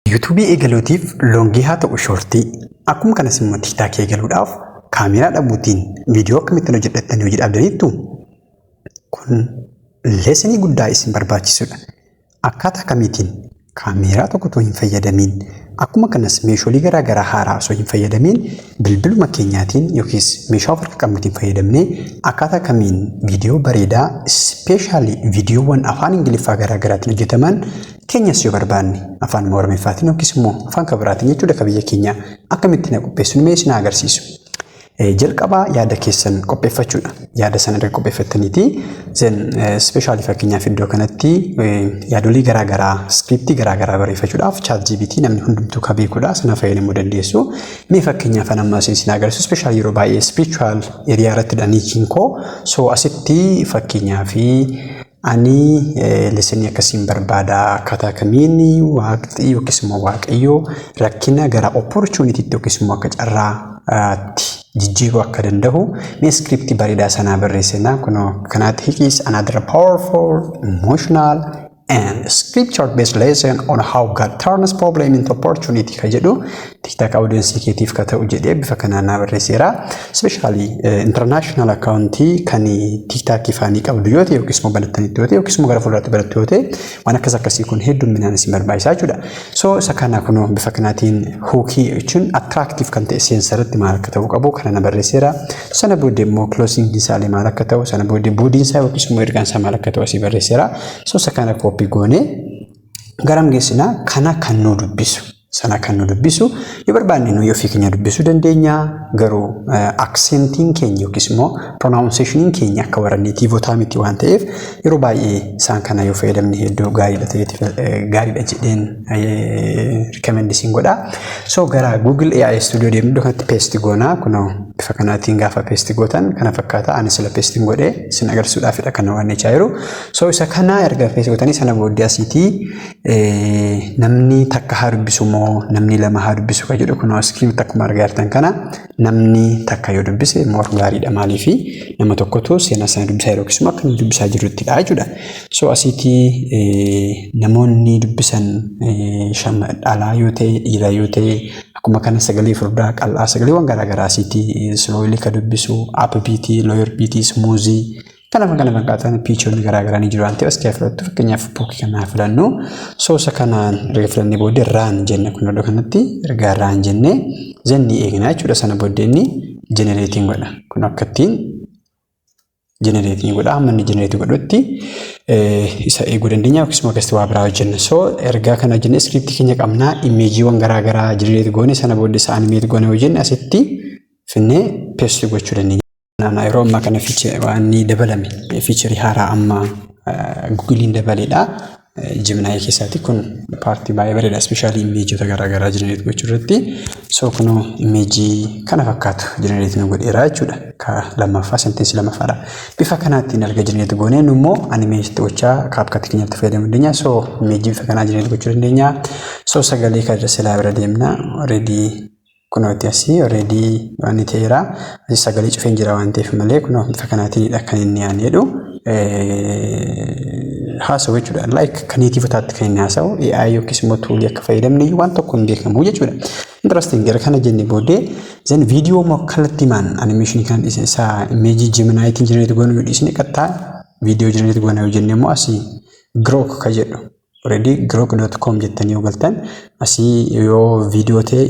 Yuutuubii eegaluutiif loongii haa ta'u shoortii, akkuma kanas immoo tiiktaakii eegaluudhaaf kaameeraa dhabuutiin viidiyoo akkamittiin hojjedha jettanii hojii dhaabdaniittu? Kun leesenii guddaa isin barbaachisudha. Akkaataa kamiitiin kaameeraa tokko otoo hin fayyadamiin akkuma kanas meeshoolee garaa garaa haaraa osoo hin fayyadamiin bilbiluma keenyaatiin yookiis meeshaa of harka qabnuutiin fayyadamnee akkaataa kamiin viidiyoo bareedaa ispeeshaalii viidiyoowwan afaan ingiliffaa garaa garaatiin hojjetaman Keenyas yoo barbaanne afaanuma Oromiffaatiin yookiis immoo afaan kan biraatiin jechuudha ka biyya keenyaa akkamitti na qopheessuun mee isin agarsiisu. Jalqabaa yaada keessan qopheeffachuudha. Yaada sana erga qopheeffattaniiti zen ispeeshaalii fakkeenyaaf iddoo kanatti yaadolii garaa garaa iskiriiptii garaa garaa barreeffachuudhaaf chaat GPT namni hundumtuu ka beekudha sana fayyadamuu dandeessu. Mee fakkeenyaaf amma isin agarsiisu ispeeshaalii yeroo baay'ee ispirichuwaal eriyaa irratti dha niichiin koo soo asitti fakkeenyaaf Anii leseni akkasiin barbaada akkaataa kamiin waaqxii yookiis immoo waaqayyoo rakkina gara opportunity yookiis immoo akka carraa tti jijjiiruu akka danda'u mee script bareedaa sanaa barreessinaa kunoo kanaatti hikiis another powerful emotional and scripture based lesson on how God turns problem into opportunity ka jedhu Tiktak audiensii keetiif ka ta'u jedhee bifa kanaan naa barreesseera. Ispeeshaalii international akkaawuntii kan tiktaakii faanii qabdu yoo ta'e yookiis immoo banattanitti yoo ta'e yookiis immoo gara fuulduraatti barattu yoo ta'e waan akkas akkasii kun heddumminaan isin barbaachisaa jechuudha. So isa kana kunoo bifa kanaatiin hookii jechuun attractive kan ta'e seensa irratti maal akka ta'uu qabu kana na barreesseera. Sana booddee immoo closing isaalee maal akka ta'u sana booddee boodiin isaa yookiis immoo ergaan isaa maal akka ta'u asii barreesseera. So isa kana koopii goonee garam geessinaa kana kan nu dubbisu sana kan nu dubbisu yoo barbaanne nuyi ofii keenya dubbisuu dandeenya garuu aksentiin keenya yookiis immoo pronaawunseeshiniin keenya akka warra neetiivotaa miti waan ta'eef yeroo baay'ee isaan kana yoo fayyadamne hedduu gaariidha ta'eeti gaariidha jedheen rikemendi siin godha so gara Google AI Studio deemnu iddoo kanatti peesti goonaa kunoo bifa kanaatiin gaafa peesti gootan kana fakkaata ani sila peestiin godhee sin agarsiisuudhaafidha kan waan jechaa jiru So isa kana erga fees gootanii sana booddee asiitii namni takka haa dubbisu moo namni lama haa dubbisu kan jedhu kunoo iskiiriitti akkuma argaa jirtan kana namni takka yoo dubbise moor gaariidha maaliifi nama tokkotu seenaa sana dubbisaa yeroo keessumaa akka inni dubbisaa jiruttidha jechuudha. So asiitii namoonni dubbisan shama dhalaa yoo ta'e dhiiraa yoo ta'e akkuma kana sagalee furdaa qal'aa sagaleewwan garaagaraa asiitii silooyilii ka dubbisu aappibiitii looyirbiitii smuuzii Kanaaf kana fakkaatan piichoonni garaa garaa ni jiru waan ta'eef asirraa filattu fakkeenyaaf buukii kanaa filannu soosa kanaan erga filannee booddee raan jenne kun iddoo kanatti ergaa raan jennee zennii eegnaa jechuudha sana booddee inni jenereetiin godha kun akka ittiin jenereetiin godha amma inni jenereetii godhutti isa eeguu dandeenya yookiis immoo keessatti waa biraa hojjenna soo ergaa kana hojjennee iskiriiptii keenya qabnaa imeejiiwwan garaa garaa jenereetii goone sana booddee isa animeetii goone hojjenne asitti finnee peestii gochuu dandeenya. Naannoo yeroo ammaa kana waan ni dabalame fiicharii haaraa amma gugiliin dabaledha. Jiminaayii keessaati kun paartii baay'ee bareeda. Ispeeshaalii imeejota garaagaraa jenereet gochuu irratti. So kunoo imeejii kana fakkaatu jenereet nu godheera jechuudha. Ka lammaffaa senteensii lammaffaadha. Bifa kanaatiin erga jenereet goonee nu immoo animeeshitti gochaa kaapkatti keenyatti fayyadamuu dandeenya. So imeejii bifa kanaa jenereet gochuu dandeenya. So sagalee kan irra silaa bira deemna. Reedii kunooti asii already wanni ta'eera asii sagalee cufeen jira waan ta'eef malee kunoo bifa kanaatiinidha kan inni yaani jedhu haasa'u jechuudha like kan neetiivotaatti kan inni haasa'u AI yookiis immoo tuulii akka fayyadamne waan tokko hin beekamu jechuudha interesting gara kana jenne booddee zan viidiyoo immoo kallattii maan animeeshinii kana dhiisne isaa imeejii jeminaayitiin jenereeti goonuu dhiisne qattaa viidiyoo jenereeti goonaa yoo jenne immoo asii girook ka jedhu Already grok.com jettanii yoo galtan asii yoo viidiyoo ta'e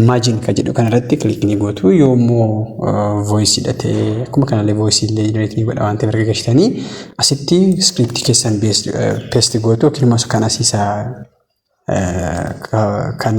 imagine kan jedhu kanarratti click ni gootu yoo immoo voice dha ta'e akkuma kanallee voice illee generate ni godha waan ta'eef erga gashitanii asitti script keessan paste gootu yookiin immoo kan asiisa kan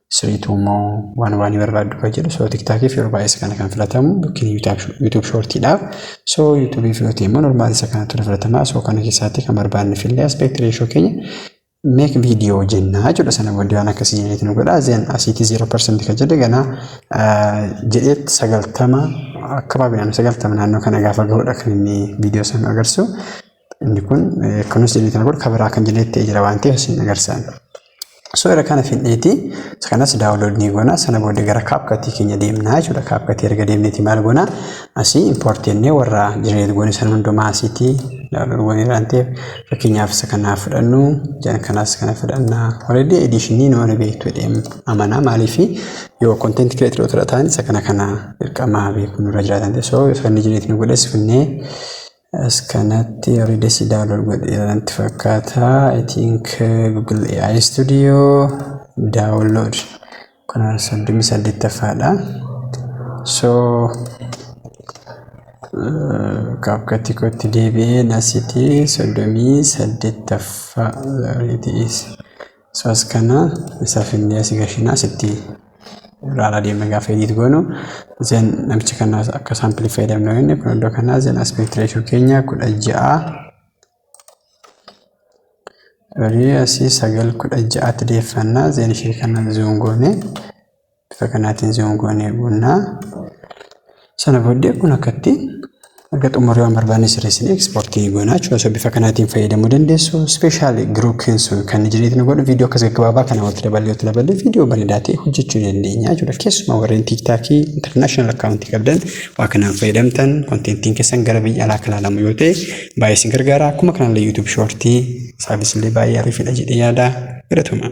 siriituu immoo waan waan barbaaddu kan jedhu soo tiktaakii fi yeroo baay'ee isa kana kan filatamu yookiin yuutuub shoortiidhaaf soo yuutuubii fi yootee immoo normaali isa kanatu ni filatamaa soo kana keessaatti kan barbaadne fillee aspeekt reeshoo keenya meek viidiyoo jennaa jechuudha sana booddee waan akkasii jenneeti nu godha zeen asiitii zeeroo parsantii kan jedhe ganaa jedheet sagaltama akka baabinaan sagaltama naannoo kana gaafa gahudha kan inni viidiyoo sana agarsiisu Inni kun kunis jennee kana booda kabiraa kan jennee ta'ee jira waan ta'eef isin agarsaan. So irra kana fidheeti kanas daawunlood ni goona sana booda gara kaapkatii keenya deemnaa jechuudha kaapkatii erga deemneeti maal goona asii impoort jennee warra jireet goone sana hundumaa asiitii daawunlood goone waan ta'eef fakkeenyaaf isa kanaa fudhannu jan kanaas kana fudhannaa horedii ediishinii nu wani beektu jedheem amanaa maaliif yoo konteenti kireetiroo tura ta'an isa kana kana dirqamaa beekuu nurra jiraatan ta'e so ifranni jireet nu godhes finnee As kanatti warri desi download godheera natti fakkaata. I think Google AI Studio download kuna soddomii saddeettaffaadha. So kaapkatti kootti deebi'ee nasitii soddomii saddeettaffaa it is. So as kana isa finnee asii gashinaa asitti ilaalaa deemna gaafa edit goonu zen namicha kana akka saampilii fayyadamnu yoo inni kun iddoo kanaa zen aspect ratio keenya kudha ja'a Rii asii sagal kudha ja'aatti deeffannaa zen ishee kana zoom goone Bifa kanaatiin zoom goonee buunna. Sana booddee kun akkatti erga xumurree waan barbaanne sirreessinee ekspoortii goonaa jechuudha. So bifa kanaatiin fayyadamuu dandeessu. Ispeeshaali giruupiin sun kan jireetti nu godhu viidiyoo akkas gaggabaabaa kana walitti daballee walitti daballee viidiyoo bareedaa ta'e hojjechuu dandeenya jechuudha. Keessumaa warreen tiiktaakii intarnaashinaal akkaawuntii qabdan waa kanaan fayyadamtan konteentiin keessan gara biyya alaa kan ilaalamu yoo ta'e baay'ee isin gargaara. Akkuma kanallee yuutuub shoortii saabis illee baay'ee ariifadha jedhee yaada. Galatoomaa.